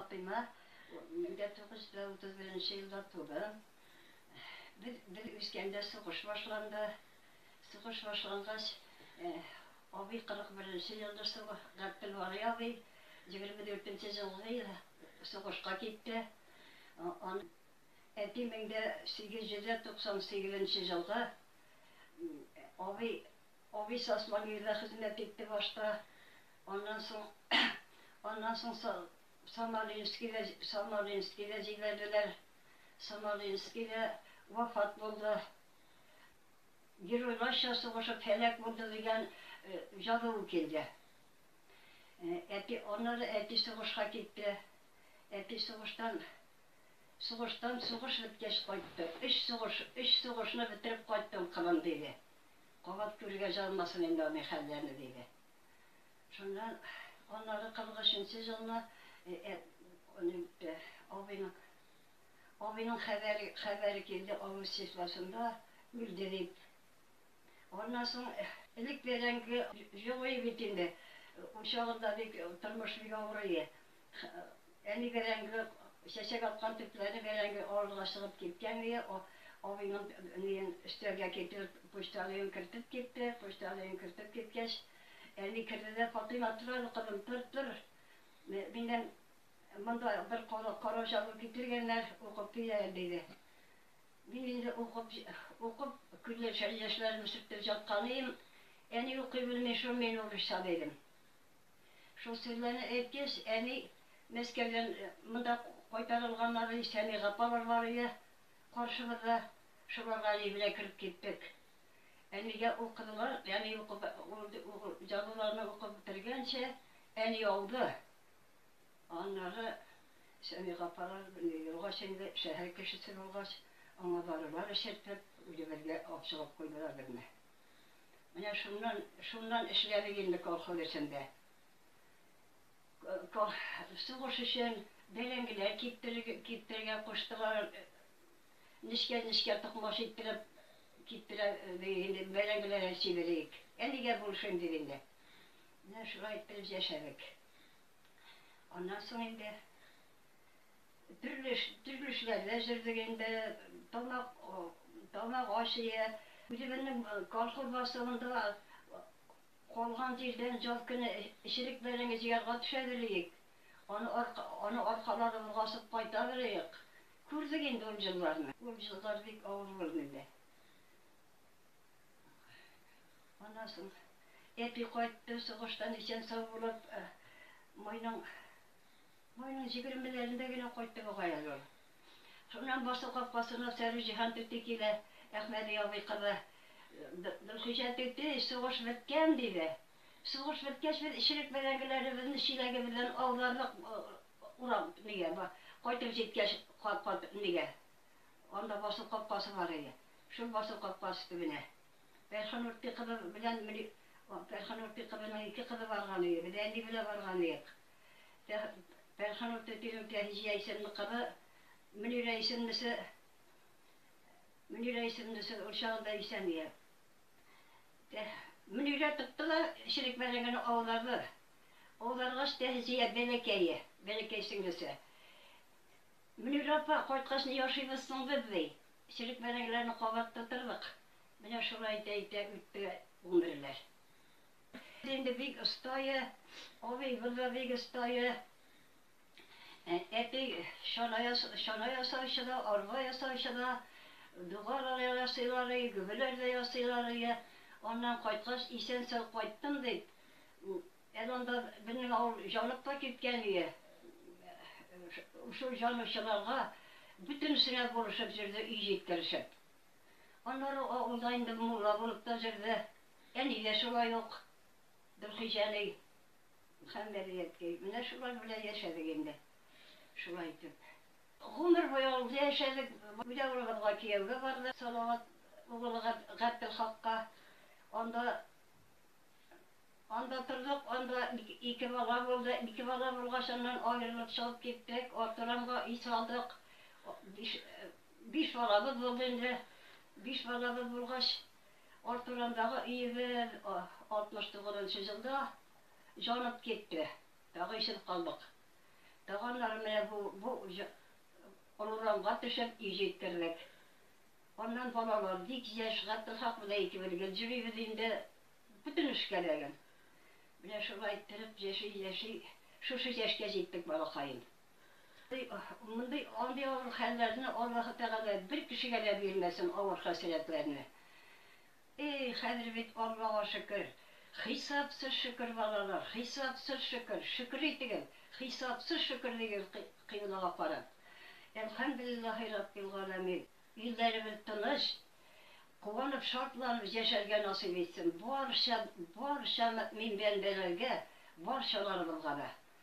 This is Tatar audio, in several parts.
Фатыйма, мин дә 931 нче елда тудым. Без, без үскәндә сугыш башланды. Сугыш башлангач, абый 41 нче елда сугы, Габделвали абый 24 нче җылгы ел сугышка китте. Ан, әти 1898 нче җылгы, абый Абый Сасмагыйрда хезмәт итте башта, аннан соң аннан соң Самаринскида Самаринскида җибәрделәр. Самаринскида вафат булды. Геройларча сугышып һәлак булды дигән җазуы килде. Әти аннары әти сугышка китте. Әти сугыштан сугыштан сугыш беткәч кайтты. Өч сугыш, өч сугышны бетереп кайттым, кылын, диде. Кабат күрергә җыенмасын инде аның хәлләрне, диде. Шуннан аннары 43 нче елны абыйның абыйның хәбәре хәбәре килде, авыр ситуацинда үлде дип. Аннан соң элек бәрәңге җылый бит инде, учагында бик тормыш бик авырые. Әни бәрәңге чәчәк аткан төпләре бәрәңге авыруга чыгып киткән иде. Абыйның ниен өстәлгә китереп, почта алыйын кертеп китте. Почта алыйын кертеп киткәч, әни керде дә, Фатыйма, тор әле, кызым, тор, тор. Миннән монда бер карау чагу китергәннәр, укып кил әле, диде. Мин инде укып, укып, күз яшьләремне сөртеп җаткан идем. Әни укый белми шул, мин урысча, дидем. Шул серләрне әйткәч, әни Мәскәүдән монда кайтарылганнар, и Сәми Гапалар бар иде каршыбызда, шуларга әни белән кереп киттек. Әнигә ул кызылар, әни укып, җазуларны укып бетергәнчә, әни ауды. Аннары Сәми Гапалар белән елгач инде, шәһәр кешесе булгач, аңа дарулар эчертеп, үзебезгә абчылап куйдылар безне. Менә шуннан, шуннан эшләдек инде колхоз эчендә. Сугыш өчен бәрәңгеләр киптерергә куштылар. Нечкә-нечкә токмач иттереп киптерә дидек инде, бәрәңгеләрен сибелик. Әнигә булышыйм дип инде. Менә шулай иттереп яшәдек. Аннан соң инде Төрле төрле эшләрдә җырлый инде, тамак тамак ашые. Үзебезнең колхоз башлыгында калган җирдән җаз көне эчерек бәрәңге җыярга төшә белик. Аны арка аны аркаларыбызга асып кайта белик. Күрдек инде ул җылларны. Ул җыллар бик авыр булды инде. Аннан соң әти кайтты сугыштан исән-сау булып, майның. Майның җигермеләрендә генә кайтты бугай әле ул. Шуннан басу капкасына Сәрүҗиһан түти килә, Әхмәди абый кызы. Гөлхиҗә түти, сугыш беткән, диде. Сугыш беткәч, без эчерек бәрәңгеләребезне чиләгебездән аудардык урам нигә, кайтып җиткәч, кат-кат нигә. Анда басу капкасы бар иде. Шул басу капкасы төбенә. Фәрханурти кызы белән Фәрханурти кызының ике кызы барган иде. Без әни белән барган идек. Пәнхан ул төтегем Фәризия исемле кызы Мөнирә исемлесе Мөнирә исемлесе ул чагында исән иде. Мөнирә тотты да эчерек бәрәңгене аударды. Аударгач, Тәһзия бәләкәе, бәләкәй сеңлесе. Мөнирә апа, кайткач ни ашыйбыз соң без, ди. Эчерек бәрәңгеләрне кабат тутырдык. Менә шулай итә-итә үтте гомерләр. Инде бик остае, абый булды бик остае. Әти чана ясаучы да, арба ясаучы да, дугалар ясыйлар иде, гөбеләр дә ясыйлар иде. Аннан кайткач, исән-сау кайттым дип, әле анда безнең авыл җанып та киткән иде. Шул җанучыларга бөтенесенә булышып җөрде өй җиткеришеп. Аннары авылда инде мулла булып та җөрде. Ә нигә шулай ук Дулхиҗәлей һәм Бәдриәткәй? Менә шулар белән яшәдек инде, шулай итеп. Гомер буе авылда яшәдек. Бүләк углыбызга кияүгә барды Салават углы Габделхакка. Анда, анда тордык, анда ике бала булды. Ике бала булгач, аннан аерылып чыгып киттек. Артурамга өй салдык. Биш, биш балабыз булды инде. Биш балабыз булгач. Арт урамдагы өебез 69 нчы җылда җанып китте. Тагы ишелеп калдык. Тагы аннары менә бу бу олы урамга төшеп өй җиткердек. Аннан балалар бик яшь, Габделхак белән икебез гел йөрибез инде. Бөтен эшкә ләген. Менә шулай иттереп яши-яши шушы яшькә җиттек, балакаем. Мондый андый авыр хәлләрне Аллаһы Тәгалә бер кешегә дә бирмәсен, авыр хәсрәтләрне. Эй, хәзер бит, Аллага шөкер, хисапсыз шөкер, балалар, хисапсыз шөкер, шөкер итегез, хисапсыз шөкер дигез кыйблага карап. Әлхәмдүлиллаһи раббил галәмин. Илләребез тыныч, куанып, шатланып яшәргә насыйп итсен барча, барча мөэмин бәндәләргә, барчаларыбызга да.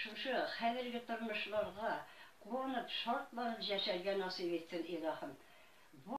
Шушы хәзерге тормышларга куанып, шатланып җәшәргә насыйп итсен, Илаһым. Бу.